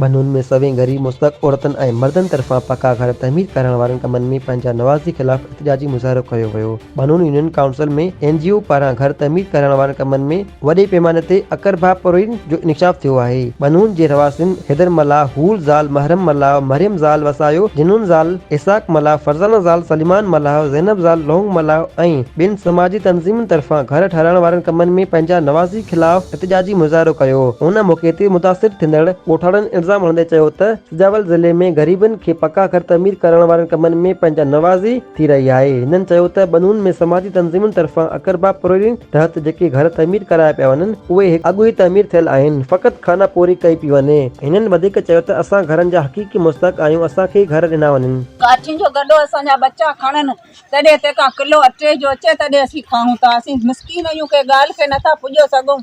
ٻنھن ۾ سوين غريب مستحق عورتن ۽ مردن طرفان پڪا گهر تعمير ڪرائڻ وارن ڪمن ۾ پنھنجا نوازي خلاف احتجاجي مظاھرو ڪيو ويو. ٻنھن union council ۾ N G O پاران گهر تعمير ڪرائڻ وارن ڪمن ۾ وڏي پيماني تي اڪرڀاپورين جو انڪشاف ٿيو آهي. ٻنهون جي رهواسين حيدر ملاح، هول زال، محرم ملاح، مريم زال وسايو، جنون زال، اسحاق ملاح، فرزانه زال، سليمان ملاح، زينب زال، لونگ ملاح ۽ ٻين سماجي تنظيمن طرفان گهر ٺهرائڻ وارن ڪمن ۾ پنهنجا نوازي خلاف احتجاجي مظاهرو ڪيو. ان موقعي تي متاثر ٿيندڙ ڳوٺاڻن الزام هڻندي چيو ته سجاول ضلعي ۾ غريبن کي پڪا گهر تعمير ڪرائڻ وارن ڪمن ۾ پنهنجا نوازي ٿي رهي آهي. هنن چيو ته ٻنون ۾ سماجي تنظيمن طرفان اقربا پرويرين تحت جيڪي گهر تعمير ڪرايا پيا وڃن اهي هڪ اڳ ئي تعمير ٿيل آهن فقط خانه پوري ڪئي پي وڃي. هنن وڌيڪ چيو ته اسان گهرن جا حقيقي مستحق آهيون اسان کي ئي گهر ڏنا وڃن. ڪاٺين جو گڏو اسان جا ٻچا کڻن تڏهن تنهن کان ڪلو اٽي جو اچي تڏهن اسين کائون ٿا اسين مسڪين آهيون ڪنهن ڳالهه کي نٿا پڄو سگهون.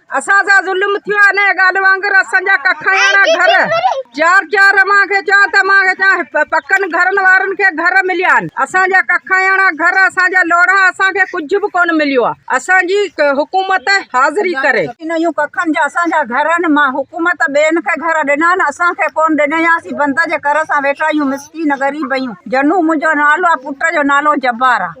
اسان سان ظلم ٿيو آهي انهيء ڳالهه وانگر اسان جا ڪکاياڻا گهر چار چار اوهان کي چيان ته مان کي چيان پڪن گهرن وارن کي گهر مليا آهن اسان جا ڪکاياڻا گهر اسان جا لوڙها اسان کي ڪجهه به ڪونه مليو آهي اسان جي حڪومت حاضري ڪري انهن ڪکن جا اسان جا گهر آهن مان حڪومت ٻين کي گهر ڏنا آهن اسان کي ڪونه ڏني آهي اسين بند جي ڪر سان ويٺا آهيون مسڪين غريب آهيون جنو منهنجو نالو آهي پٽ جو نالو جبار آهي.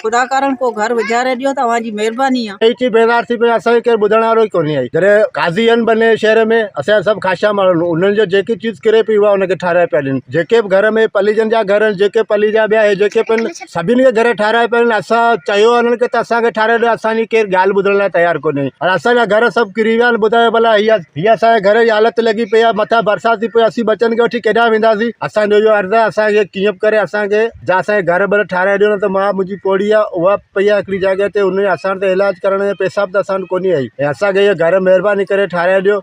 خدا ڪارڻ ڪو گهر وجهاري ڏيو توهان جي مهرباني آ. اي چي بيدار ٿي پيو اسان کي ڪير ٻڌڻ وارو ئي ڪونهي آهي جڏهن قاضي آهن بنهه جي شهر ۾ اسان جا سڀ خاشا ماڻهن انهن جي جيڪي چيز ڪري پئي اها انهن کي ٺهرائي پيا ڏين جيڪي به گهر ۾ پليجن جا گهر آهن جيڪي پلي جا ٻيا هي جيڪي پن سڀني کي گهر ٺهرائي پيا ڏين اسان چيو آهي انهن کي ته اسان کي ٺهرائي ڏيو اسان جي ڪير ڳالهه ٻڌڻ لاء تيار ڪونهي ۽ اسان جا گهر سڀ ڪري ويا آهن ٻڌايو ڀلا هي هي اسان جي گهر جي حالت لڳي پئي آهي مٿان برسات ٿي پئي اسين ٻچن کي وٺي ڪيڏانهن وينداسين اسان جو اهو عرض آهي اسان کي ڪيئن به ڪري اسان کي جا اسانکي گهر ٻر ٺاهرائي ڏيو نه ته ماء منهنجي پوڙهي آهي اها پئي آهي هڪڙي جاء تي ان جا اسان وٽ علاج ڪرڻ جا پئسا به اسان وٽ ڪونهي آهي ۽ اسانکي اهي گهر مهرباني ڪري ٺاهرائي ڏيو